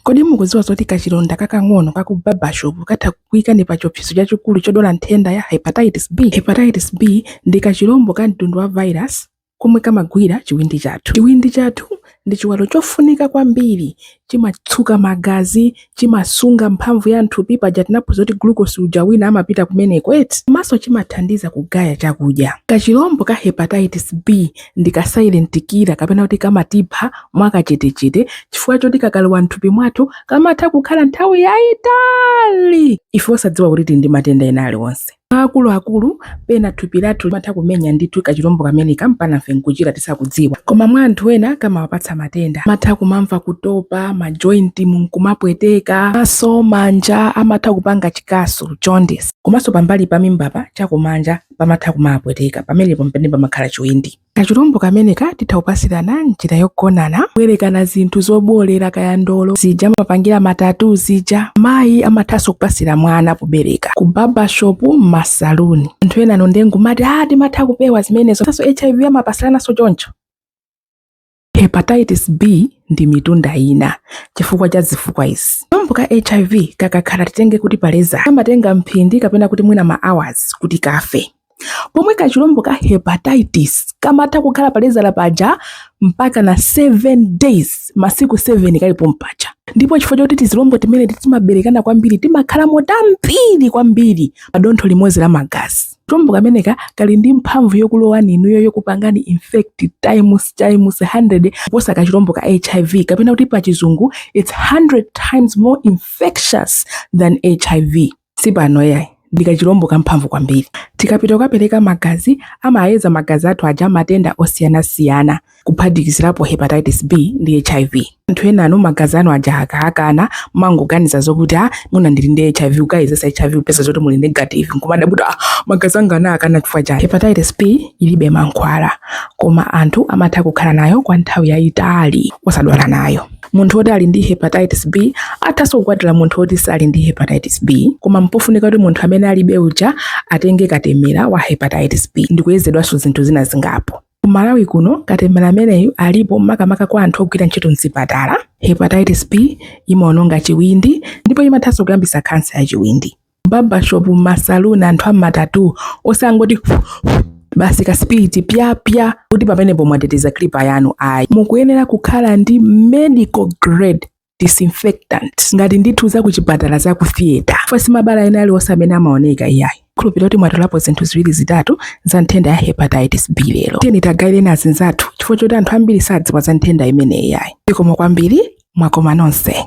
Kodi mukudziwa zoti kachilonda kakang'ono ka ku barbershop katha kukuikani pa chiopsezo chachikulu chodwala nthenda ya hepatitis B? Hepatitis B ndi kachilombo ka mtundu wa virus komwe kamagwira chiwindi chathu. Chiwindi chathu ndi chiwalo chofunika kwambiri. Chimatsuka magazi, chimasunga mphamvu ya m'thupi, paja tinaphunzira kuti glucose uja wina amapita kumeneko eti, komanso chimathandiza kugaya chakudya. Kachilombo ka hepatitis B ndi ka silent killer kapena kuti kamatipha mwakachetechete chifukwa choti kakalowa mthupi mwathu kamatha kukhala nthawi yayitali ife osadziwa kuti tili ndi matenda ena aliwonse akuluakulu pena thupi lathu limatha kumenya ndithu kachilombo kameneka mpana ife nkuchira tisakudziwa koma mwa anthu ena kamawapatsa matenda amatha kumamva kutopa majointi mumkumapweteka maso manja amatha kupanga chikasu jaundice komanso pambali pa mimbapa chakumanja pamatha kumapweteka pamenepo mpene pamakhala chiwindi kachilombo kameneka titha kupasirana mnjira yogonana kubwerekana zinthu zobolera kaya ndolo zija amapangira matatu zija mayi amathanso kupasira mwana pobereka ku barbershop m'masaluni anthu enanu nde mukumati a timatha kupewa zimenezo ngati hiv amapasirananso choncho hepatitis b ndi mtunda wina chifukwa cha zifukwa izi kachilombo ka hiv kakakhala titenge kuti paleza kamatenga mphindi kapena kuti mwina ma hours kuti kafe pomwe kachilombo ka hepatitis kamatha kukhala paleza paja mpaka na 7 days masiku 7 kali pompaja ndipo chifukwa choti tizilombo timeneti timaberekana kwambiri timakhalamo tambiri kwambiri pa dontho limodzi la magazi Kachilombo kameneka kali ndi mphamvu yokulowani inuyo yokupangani infect times times 100 kuposa kachilombo ka HIV kapena kuti pa chizungu it's 100 times more infectious than HIV. Si pano yayi ndi kachilombo kamphamvu kwambiri. Tikapita kukapereka magazi amayeza magazi athu aja matenda osiyanasiyana. kuphatikizirapo hepatitis B ndi hiv anthu enanu magazi anu aja akaakana mumangoganiza zokuti a mwina ndili ndi hiv kukayezesa hiv kupeza zoti muli negative nkumadabwa kuti ah, magazi anga anaakana chifukwa chani hepatitis B ilibe mankhwala koma anthu amatha kukhala nayo kwa nthawi yayitali osadwala nayo munthu woti ali ndi hepatitis B athaso kukwatira munthu woti sali ndi hepatitis B koma mpofunika kuti munthu amene alibe uja atenge katemera wa hepatitis B ndikuyezedwanso zinthu zina zingapo Ku Malawi kuno katemera ameneyu alipo makamaka kwa anthu ogwira ntchito mzipatala. Hepatitis B imaononga chiwindi ndipo imathanso kuyambisa khansa ya chiwindi. Barbershop, masaluni, anthu amatatu osangoti basi ka spirit pya pya kuti pamenepo mwateteza clipper yanu ayi. Mukuyenera kukhala ndi medical grade disinfectant ngati ndithu za kuchipatala za ku theater ife osati mabala ena aliwonse amene amaoneka iyayi khulupirira kuti mwatolapo zinthu ziwiri zitatu za nthenda ya hepatitis b lero tiyeni tagaireni azinzathu chifukwa choti anthu ambiri sadziwa za nthenda imeneyi iyayi zikomo kwambiri mwakoma nonse